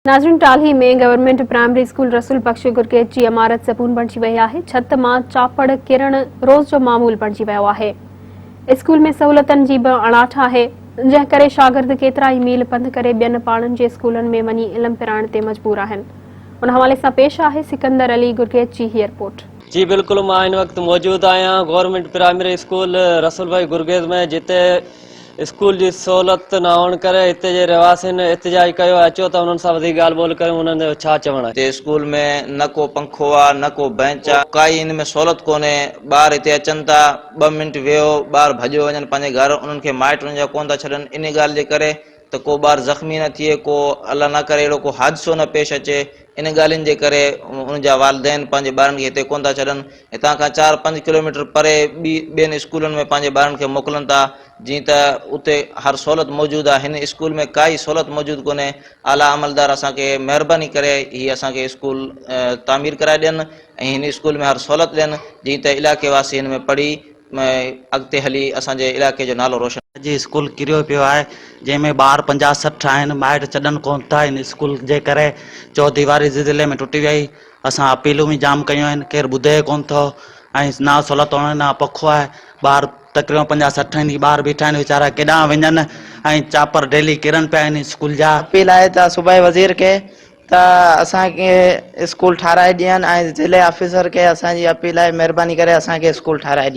ناظرين Talhi ۾ government primary school Rasool Bakhsh Gurgej جي عمارت زبون بڻجي وئي آهي ڇت مان چاپڙ ڪرڻ روز جو معمول بڻجي ويو آهي اسڪول ۾ سهولتن جي به اڻاٺ آهي جنهن ڪري شاگرد ڪيترا ئي ميل پنڌ ڪري ٻين پاڙن جي اسڪولن ۾ وڃي علم پرائڻ تي مجبور آهن ان حوالي سان پيش آهي سڪندر علي گرگيج جي هي رپورٽ. جي بلڪل مان هن وقت موجود آهيان government primary school Rasool Bakhsh Gurgej ۾ جتي اسڪول جي سهولت نه هئڻ ڪري هتي جي رهواسين احتجاج ڪيو آهي، اچو ته انهن سان وڌيڪ ڳالهه ٻولهه ڪريون، انهن جو ڇا چوڻ آهي. هتي اسڪول ۾ نه ڪو پنکو آ نه ڪو بئنچ آ. ڪائي ان ۾ سهولت ڪونهي، ٻار هتي اچن ٿا ٻه منٽ ويهو ٻار ڀڄيو وڃن پنهنجي گهر، انهن کي مائٽ انهن جا ڪونه ٿا ڇڏن، انهي ڳالهه جي ڪري. ته ڪو ٻار زخمي نه ٿئي، ڪو الله نه ڪري اهڙو ڪو حادثو نه پيش اچي، ان ڳالهين جي ڪري ان جا والدين پنهنجي ٻارن کي هتي ڪونه ٿا ڇڏن، هتان کان چار پنج ڪلوميٽر پري ٻي ٻين اسڪولن ۾ پنهنجي ٻارن کي موڪلن ٿا، جيئن ته اتي هر سهولت موجود آهي، هن اسڪول ۾ ڪا ئي سهولت موجود ڪونهي، اعليٰ عملدار اسان کي مهرباني ڪري هي اسان کي اسڪول تعمير ڪرائي ڏين ۽ هن اسڪول ۾ هر سهولت ڏين، جيئن ته علائقي واسي هن ۾ پڙهي. ۾ اڳتي هلي اسان جي علائقي جو نالو روشن. اڄ اسڪول ڪريو پيو آهي جنهن ۾ ٻار پنجاهه سٺ آهن مائٽ چڏن ڪون ٿا ان اسڪول جي ڪري چوديواري زلزلي ۾ ٽٽي وئي اسان اپيلون به جام ڪيون آهن ڪير ٻڌي ئي ڪون ٿو ۽ نه سھولت هئڻ نه پکو آهي ٻار تقريبن پنجاهه سٺ آهن هي ٻار بيٺا آهن ويچارا ڪيڏانهن وڃن ۽ چاپر ڊيلي ڪرن پيا ان اسڪول جا اپيل آهي ته صوبائي وزير کي ته اسان کي اسڪول ٺاهرائي ڏين ۽ ضلعي آفيسر کي اسان جي اپيل آهي مهرباني ڪري اسان کي اسڪول ٺاهرائي ڏين.